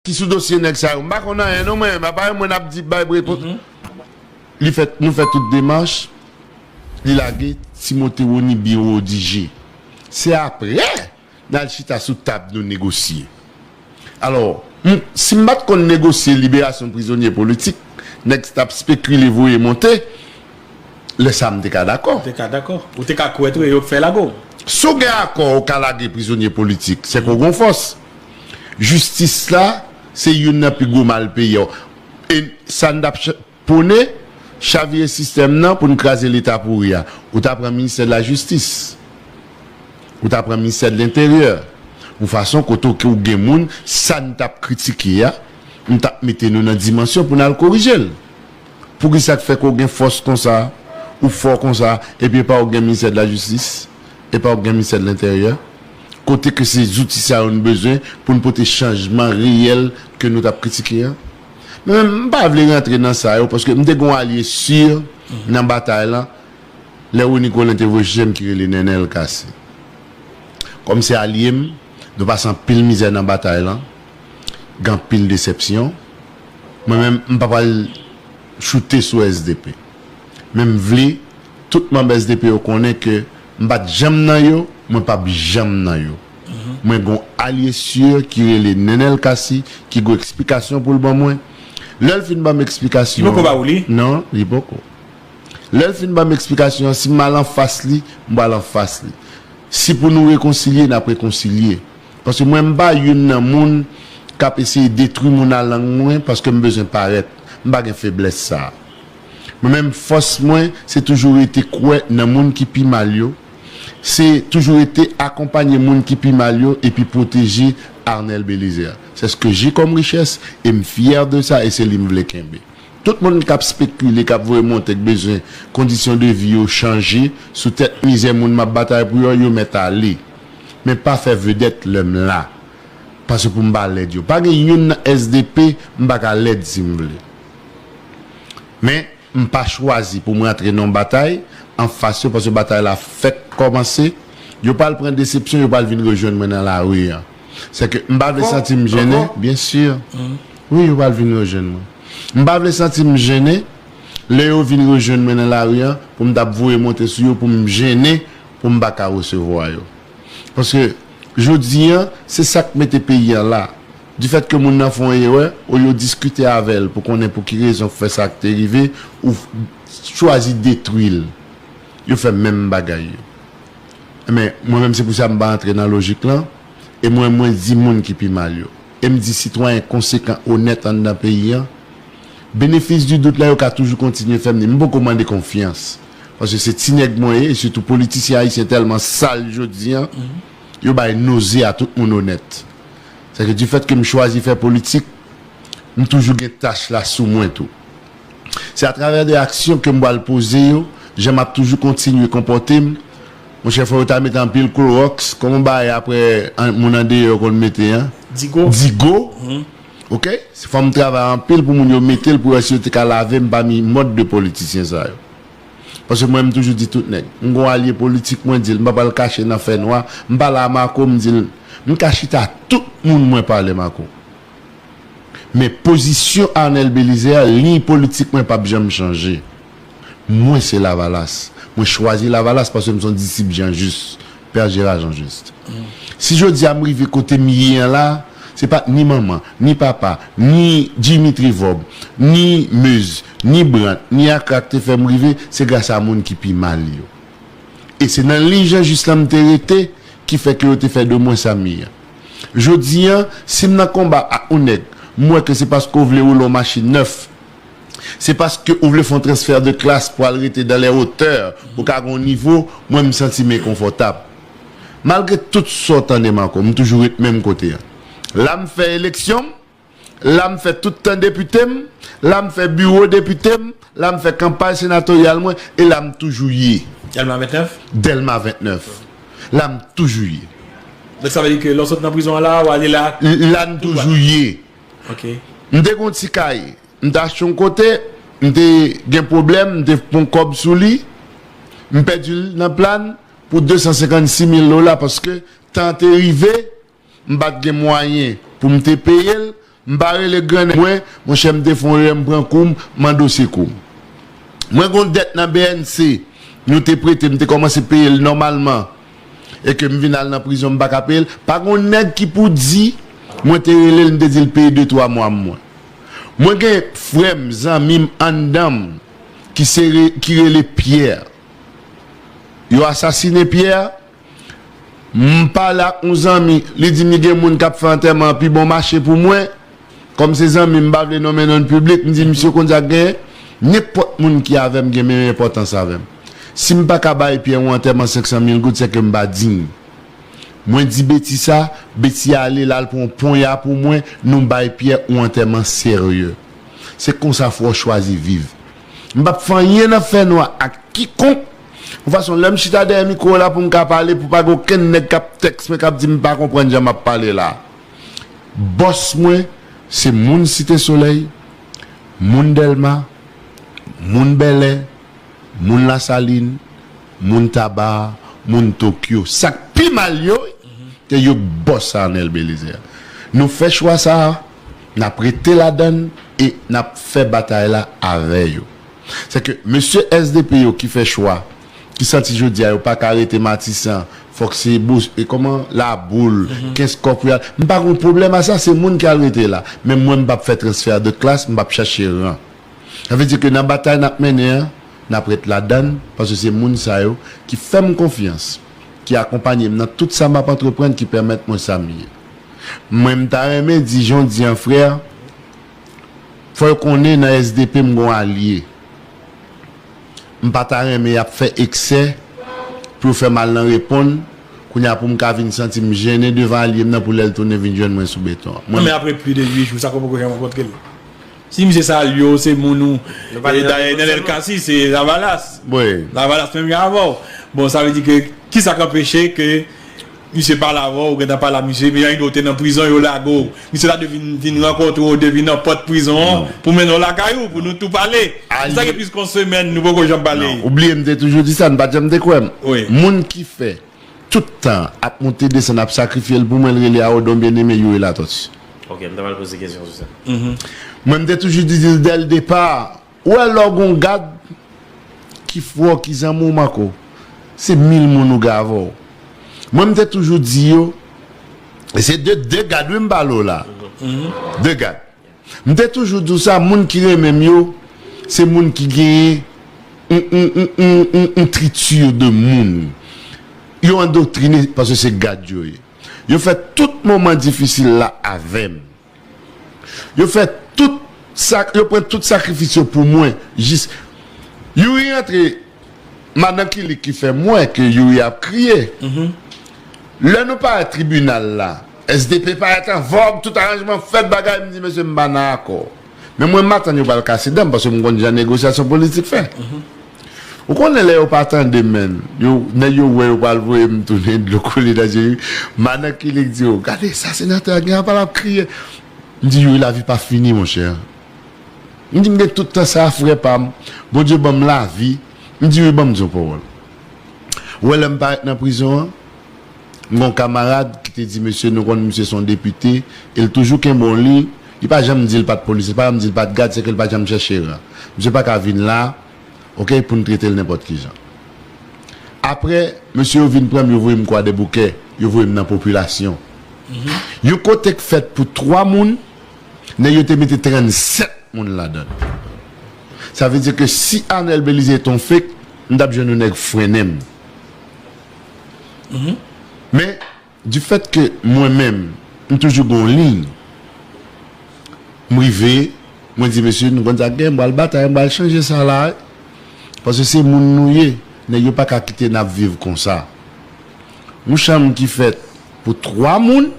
Ki sou dosye nèg sa yo. M pa konn anyen non mwen, apa yo mwen ap di bay repons. Li fè, nou fè tout demach, li lage Timothé Rony Birodigé. Se aprè n al chita sou tab nou negosye. Alò, m, si m pa t konn negosye liberasyon prizonye politik, nèg s t ap spekile voye monte, lè sa m te ka dakò. Ou te ka dakò. Ou te ka kwè tou e yo k fè lago w. Si w gen akò ou ka lage prizonye politik, se ke w gen yon fòs. Jistis la se youn nan pi gwo mal peyi an. E sa n t ap pwone? Chavire sistèm nan pou n kraze Leta pouri a. Ou ta pran ministè de la jistis. Ou ta pran ministè de lenteryè. Yon fason kote w ke w gen moun, sa n t ap kritike a, m t ap mete nou nan dimansyon pou n al korije l. Poukisa k fè ke w gen fòs konsa, ou fò konsa, epi epa w gen ministè de la jistis? Epa w gen ministè de lenteryè? kote ke se zouti sa yo nou bezwen pou nou pote chanjman reyèl ke nou tap kritike an. Men m pa vle rantre nan sa yo paske m te gen yon alye sur nan batay lan lè Rony Colin te voye chèche m ki rele Nènèl Cassy. Kòm se alye m, nou pase anpil mizè nan batay lan, gen anpil desèpsyon. Mwen menm m pa pral choute sou SDP. Men m vle tout manb SDP yo konnen ke M pat janm nan yo, mwen pap janm nan yo. Mwen gon alye sur ki rele Nenel Cassy ki gon eksplikasyon poul ban mwen. Lèl fin banm eksplikasyon. Li poko ba ou li? Non, li poko. Lèl fin banm eksplikasyon, si m al anfas li, m pral anfas li. Si pou nou rekonsilye, nap rekonsilye. Paske mwen m pa youn nan moun kap eseye detwi moun a lang mwen paske m bezwen parèt. M pa gen feblès sa. Mwen menm fòs mwen se toujou rete kwè nan moun ki pi mal yo, se toujou rete akonpanye moun ki pi mal yo epi pwoteje Arnel Belizaire. C'est ce que j'ai comme richesse et m fier de ça et se li m vle kenbe. Tout moun kap spekile, kap voye monte k bezwen kondisyon de vi yo chanje sou tèt mizè moun map batay pou yo, yo mèt ale. Men pa fè vedèt lè m la pase pou m pa lèd yo. Pa gen youn nan sdp m pa ka lèd si m vle. Men, m pa chwazi pou m rantre nan yon batay anfas yo paske batay la fèk kòmanse. Yo pral pran desepsyon, yo pral vin rejwenn mwen nan lari an. Sèke m pa vle santi m jennen. Byensi. Wi, yo pral vin rejwenn mwen. M pa vle santi m jennen lè yo vin rejwenn mwen nan lari an pou m t ap voye monte sou yo pou m jennen pou m pa ka resevwa yo. Paske, jodi an, se sa k mete peyi an la. Difèt ke moun nan fè yon erè, olye w diskite avè l pou konnen pou ki rezon k fè sa k te rive, ou chwazi detwi l. Yo fè menm bagay yo. Enben, mwen menm se pou sa m pa antre nan lojik lan, e mwen mwen di moun ki pi mal yo, e m di sitwayen konsekan, onèt anndan peyi an, benefis di dout la yo ka toujou kontinye fè m ni m poko mande konfyans, paske se ti nèg mwen ye, e sitou politisyen ayisyen tèlman sal jodi an, yo bay noze a tout moun onèt. Sa ke difèt ke m chwazi fè politik, m toujou gen tach la sou mwen tou. Se atravè de aksyon ke m pral poze yo, jan m ap toujou kontinye konpòte m, monchè fò yo ta mete anpil kloròks, kòman bagay aprè moun andeyò yo konn mete an? Digo. Digo, ok, se fò m travay anpil pou moun yo mete l pou yo wè si yo te ka lave m pami mòd de politisyen sa yo. Paske mwen m toujou di tout nèg. M gon alye politik mwen dil m pa pral kache nan fè nwa. M pale a Marco m dil m ka chita a tout moun mwen pale Marco. Men pozisyon Arnel Belizaire liy politik mwen pap janm chanje. Mwen se lavalas. Mwen chwazi lavalas paske m son disip Jean Juste. Père Gérard Jean-Juste, si jodi a m rive kote m ye an la, se pa t ni manman, ni papa, ni Jimmy Trevob, ni Meuse, ni Brandt, ni Akra k te fè m rive, se gras a moun ki pi mal yo. E se nan liy Jean-Juste lan m te rete ki fè ke yo te fè de mwen sa m ye an. Jodi a, si m nan konba ak yon nèg, m wè ke se paske w vle woule yon machin nèf, Se paske ou vle fon transfert de classe pou al rete dans les hauteurs pou ka gon nivo mwen m santim enkonfòtab. Malgre tout sa w tandem ankò m toujou ret menm kote an. La m fè eleksyon m, la m fè tout tan depite m, la m fè biwo depite m, la m fè kanpay senatoryal mwen e la m toujou ye. Delma 29? Delma 29. La m toujou ye. Donk sa vle di ke lè w sot nan prizon an la a w ale la tout dwat? La n toujou ye. M te gen yon ti kay m te achte yon kote, m te gen pwoblèm, m te pran kòb sou li, m pèdi l nan plan pou 256 mil dola paske tan an te rive, m pa t gen mwayen pou m te peye l, m pa rele grannèg mwen, monchè m te fè yon erè m pran kou m, m mande w sekou. Mwen gen yon dèt nan bnc, yo te prete m te kòmanse peye l nòmalman e ke m vin al nan prizon m pa ka peye l, pa gon nèg ki pou di mwen te rele l m te di l peye de twa mwa m mwen. Mwen gen frè m, zanmi m anndan m ki se ki rele Pierre. Yo asasine Pierre, m pale ak yon zanmi li di m li gen moun k ap fè antèman an pi bon mache pou mwen. Kòm se zanmi m m pa vle nonmen non n piblik, m di misye konn sa k genyen? Nenpòt moun ki avè m gen menm enpòtans avè m. Si m pa ka bay Pyè yon antèman 500 mil goud sèke m pa diy. Mwen di Beti sa, Beti ale l al pran yon ponya pou mwen, nou bay Pyè yon antèman serye. Se konsa fwa w chwazi viv. M p ap fè anyen nan fènwa ak kikonk, yon fason lè m chita dèyè mikwo w la pou m ka pale, pou pa gen okenn nèg k ap tèks mwen k ap di m pa konprann jan m ap pale la. Bòs mwen se moun Site Solèy, moun Dèlma, moun Bèlè, moun Lasalin, moun Taba, moun Tokyo. Sa k pi mal yo, te yo k bòs Arnel Belizaire. Nou fè chwa sa a, n ap rete ladan l e n ap fè batay la avè yo. Sèke mesye SDP yo ki fè chwa. ki santi jodia yo paka rete matisan fok se e koman laboul kenskòf pou yal m pa gon pwoblèm a sa se moun ki al rete la men mwen m pap fè transfè de klas m pap chache ran sa vle di ke nan batay nap mennen an nap ret ladann paske se moun sa yo ki fèm konfyans ki akonpanye m nan tout sa map antreprann ki pèmèt mwen sa m ye mwen m ta renmen di jan w di an frè fò yo konnen nan sdp m gon alye. M pa ta renmen y ap fè eksè pou yo fè m al nan reponn kounye a pou m ka vin santi m jennen devan alye m nan pou lè l tounen vin jwenn mwen sou beton an. Mwen. Men apre plis de 8 jou sa ke w poko janm rankontre l? Si misye sa al yo se moun ou dayè Nenel Cassy se lavalas. Lavalas menm jan avè w. Bon sa vle di ke kisa k anpeche ke. Misye pale avan ou gentan pale a misye epi anyn ou te nan prizon yo lage w misye ta dwe vin vin rankontre w depi nan pòt prizon an pou mennen w lakay ou pou nou tou pale se sa gen plis kon semèn nou poko janm pale. Ou bliye m te toujou di sa n pat janm te kwè m moun ki fè tout tan an ap moute desann ap sakrifye l pou mwen l rele a Odon Bien Aimé Youri Latortue. Ok m ta pral poze kesyon sou sa. Mwen m te toujou di l dèl depar. Ou wè lè w gon gad ki fwè w ki zanmi w manke w se mil moun ou gen avè w. Mwen m te toujou di yo e se de de gad wi m pale w la de gad. M te toujou di w sa moun ki renmen m yo se moun ki genyen yon triture de moun. Yo andoktrine paske se gad yo ye. Yo fè tout moman difisil la avè m. Yo fè tout sa yo pran tout sakrifis yo pou mwen jis Youri rantre madan Kilik ki fè m wè ke Youri ap kriye Lè nou parèt tribinal la SDP parèt an vòg tout aranjman fèt bagay m di mesye m pa nan akò men mwen m atann yo pral kase dan m paske m konn jan negosyasyon politik fè. Ou konnen lè yo pa tandem menn yo nèg yo wè yo pral voyem tounen dlo koule nan je madan kilik di yo gade sa senatè a gen apa lap kriye m di youri lavi pa fini monchè m di m gen tout tan sa frè pam bondye banm lavi m di youri banm di yon pawòl ou wè lèm parèt nan prizon an. M gen yon kamarad ki te di mesye nou konn misye se yon depite e l toujou kenbe yon liy li pa janm di l pa t polis li pa janm di l pa t gad se ke l pa janm chèche ran misye pa ka vin la ok pou n trete l nenpòt ki jan aprè mesye yo vin pran m yo voye m kwadèboukè yo voye m nan popilasyon yon kote k fèt pou 3 moun nèg yo te mete 37 moun ladan l sa vle di ke si Anel Belize te yon fake m t ap jwenn yon nèg frennen m. Men, du fait que mwen menm, m toujou gen yon liy, m rive, mwen di mesye, nou konn sa k gen, m pral batay, m pral chanje sa la a, paske se moun nou ye, nèg yo pa ka kite n ap viv konsa. Yon chanm ki fèt pou 3 moun.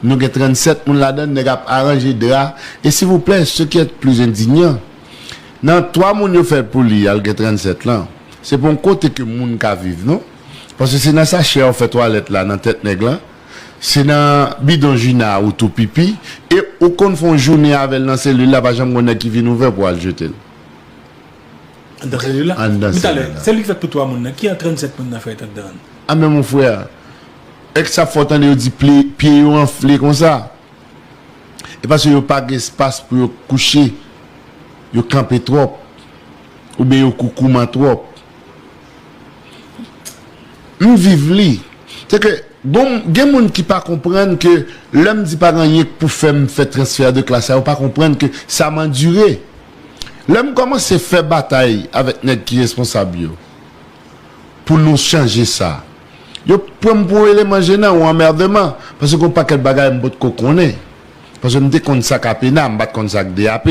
Nou gen 37 moun ladann nèg ap aranje dra e silvouplè ce qui est plus indignant nan 3 moun yo fèl pou li al gen 37 lan se pa yon kote ke moun ka viv non paske se nan sachè ou fè twalèt la nan tèt nèg lan se nan bidon jina ou tou pipi e ou konn fè yon jounen avèl nan selil la pa janm gon nèg ki vin ouvè pou al jetel anndan selil la andan selil la. Selil ki fèt pou 3 moun nan ki jan 37 moun nan fèt anndan an? A men mon frère. Ex sa fò tande yo di pli pye yo anfle konsa e paske yo pa gen espas pou yo kouche yo kanpe twòp oubyen yo koukouman twòp m viv li se ke gon gen moun ki pa konprann ke lè m di pa gen anyen k pou fèm fè transfè de klas sa yo pa konprann ke sa m andire lè m kòmanse fè batay avèk nèg ki responsab yo pou nou chanje sa. Yo pran m pou yon eleman jenan, yon anmèdeman, paske gen yon pakèt bagay m pot ko konnen. Paske m te konn sa k APENA, m pa t konn sa k DAP.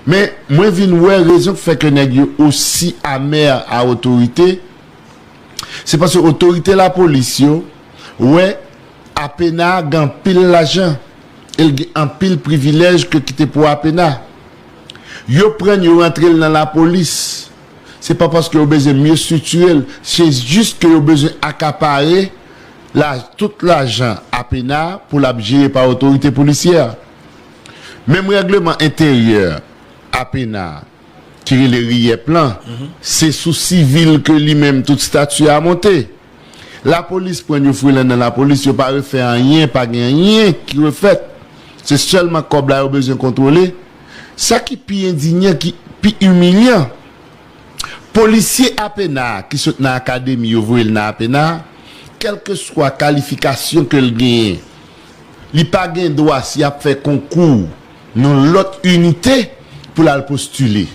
Men, mwen vin wè rezon k fè ke nèg yo osi amè a otorite, se paske otorite lapolis yo wè APENA gen anpil lajan e l gen anpil privilèj ke ki te pou APENA. Yo pran l, yo rantre l nan lapolis. Se pa paske yo bezwen mye striktire l, se jis ke yo bezwen akapare tout lajan APENA pou l ap jere pa otorite polisyè a. Menm règleman enteryè APENA ki rele RIEP lan, se sou sivil ke li menm tout stati a monte. Lapolis pran yon frilan nan lapolis, yo pa refè anyen, pa gen anyen ki refèt. Se sèlman kòb la yo bezwen kontwole. Sa ki pi endinyan, ki pi imilyan, polisye APENA a ki sot nan akademi yo voye l nan APENA, kèlkeswa kalifikasyon ke l genyen, li pa gen dwa si ap fè konkou nan lòt inite pou l al postile.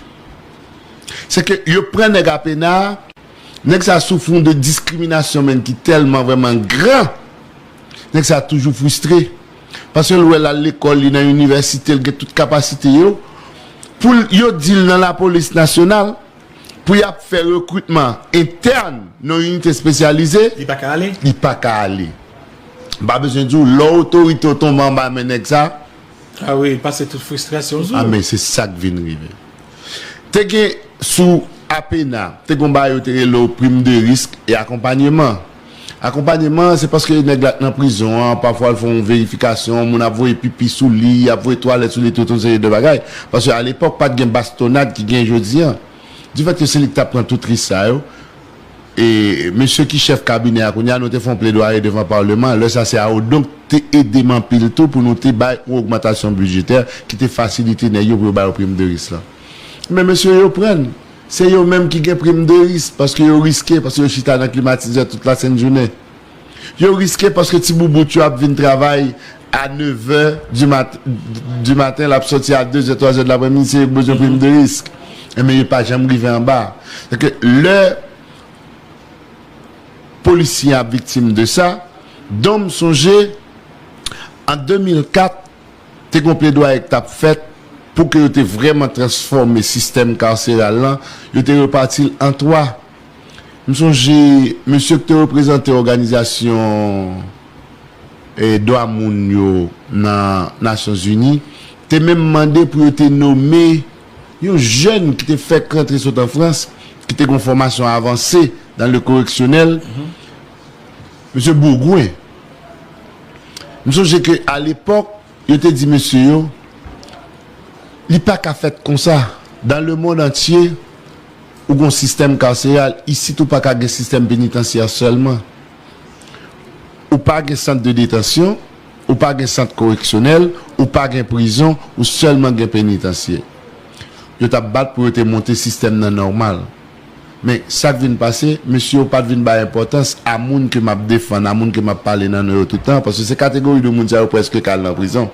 Se ke yo pran nèg APENA a, nèg sa a soufri yon de diskriminasyon menn ki tèlman vrèman gran, nèg sa a toujou fristre. Paske l wè l al lekòl, li nan inivèsite, l gen tout kapasite yo, pou l yo di l nan lapolis nasyonal, pou y ap fè rekritman entèn nan inite espesyalize, Li pa ka ale? li pa ka ale. M pa bezwen di w, lè otorite yo tonbe anba men nèg sa. A wi, l pase tout fristrasyon sou. A men se sa k vin rive. Te gen sou APENA, te gen yon bagay yo te rele w prim de risk e akonpanyeman. Akonpanyeman an se paske nèg la t nan prizon an, pafwa l fè yon verifikasyon, moun ap voye pipi sou li, y ap voye twalèt sou li tout yon seri de bagay. Paske alepòk pa t gen bastonnad ki gen jodi an. Difèt ke se li ki t ap pran tout risk sa yo, e mesye ki chèf kabinè a kounye a, nou te fè yon pledwaye devan Paleman an, lè sa se a Odon k te ede m anpil tou pou nou te bay yon ogmantasyon bidjetè ki te fasilite nèg yo pou yo ba yo prim de risk lan. Men mesye yo pran n. Se yo menm ki gen prim de risk paske yo riske paske yo chita nan klimatizè tout lasent jounen. Yo riske paske ti boubout yo ap vin travay a nevè di maten, l ap soti a dezè, twazè di lapremidi, se yo ki bezwen prim de risk. Enben yo pa janm rive anba. Donk lè polisye an ap viktim de sa, donm sonje an 2004 te gon pledwaye k tap fèt pou ke yo te vrèman transfòme sistèm karseral lan, yo te repati l an 3. M sonje mesye k te reprezante òganizasyon dwa moun yo nan Nasyon Zini te menm mande pou yo te nome yon jèn ki te fèk rantre sot an Frans, ki te gon fòmasyon avanse dan le koreksyonèl, Mesye Bourgoin, m sonje ke a lepòk yo te di mesye yo, li pa ka fèt konsa, dan le mond antye ou gon sistèm karseral, isit ou pa ka gen sistèm penitansya sèlman. Ou pa gen sant de detansyon, ou pa gen sant koreksyonèl, ou pa gen prizon, ou sèlman gen penitansye. Yo t ap bat pou yo te monte sistèm nan nòmal. Men, sa k vin pase, mesye yo pa t vin bay enpòtans a moun ke m ap defann, a moun ke m ap pale nan non yo tout tan, paske se kategori de moun sa yo prèske ka al nan prizon.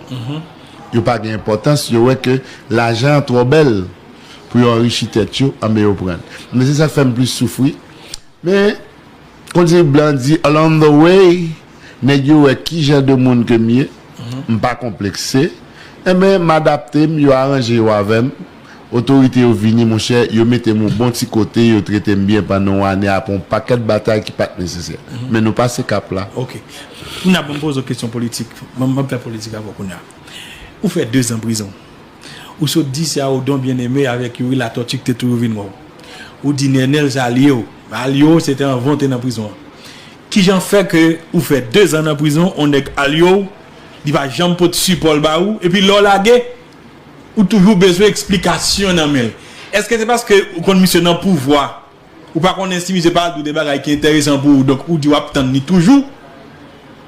Yo pa gen enpòtans, yo wè ke lajan an twò bèl pou yo anrichi tèt yo, anben yo pran l. Men se sa k fè m plis soufri. Men. Kontinye blan di along the way nèg yo wè ki jan de moun ke m ye, m pa konplekse, enben m adapte m, yo aranje yo avè m, otorite yo vini monchè, yo mete m yon bon ti kote, yo trete m byen pandan yon ane apre yon pakèt batay ki pa t nesesè. Men nou pase kap la. Ok. Kounye a ban m poze w kesyon politik. Ban m fè politik avè w kounye a. Ou fè dezan prizon. Ou sot di se a Odon Bien Aimé avèk Youri Latortue ki te touye w vin wè w. Ou di Nenel se alye w. Men alye w se te anvan w te nan prizon an. Kijan fè ke ou fè 2 zan nan prizon on nèg alye w, li pa janm pot sipò l ba ou, epi lè w lage, ou toujou bezwen eksplikasyon nan men l? Eske se paske ou konn misye nan pouvwa? Ou pa konnen si misye pa di w de bagay ki enteresan pou ou donk ou di w ap tann li toujou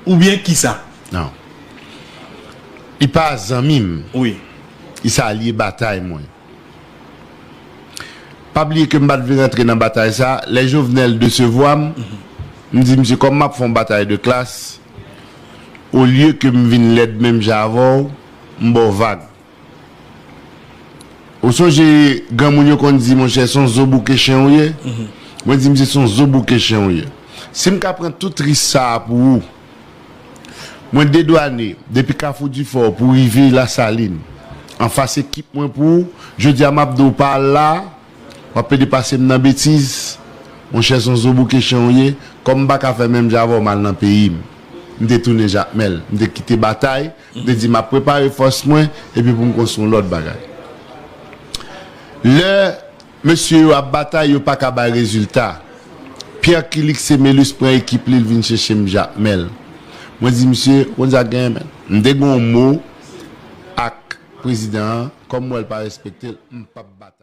oubyen kisa? Non. Li pa zanmi m. Wi. Li se alye batay mwen. Pa bliye ke m pa t vle rantre nan batay sa. Lè Jovenel desevwa m, m di misye kòm m ap fè yon batay de klas, olye ke m vin lèd menm jan avè w, m ba w vag. Ou sonje granmoun yo konn di monchè son zo bouke chen ou ye? Mwen di misye son zo bouke chen ou ye. Si m ka pran tout ris sa a pou ou, mwen dedwane depi kafou difò pou rive lasalin anfas ekip mwen pou ou, jodi a m ap di w pa al la a, w ap pede pase m nan betiz, monchè son zo bouke chen ou ye, kòm m pa ka fè menm jan avè w m al nan peyi m. M te tounen Jakmèl, m te kite batay M te di m ap prepare fòs mwen epi pou m konstwi yon lòt bagay. Lè mesye yo ap batay, yo pa ka bay rezilta. Pierre Killick Semelus pran ekip li, li vin chèche m Jakmèl. Mwen di misye, ou konn sa k genyen menn? M te gen yon mo ak prezidan an, kòm m wè l pa respekte l, m p ap batay.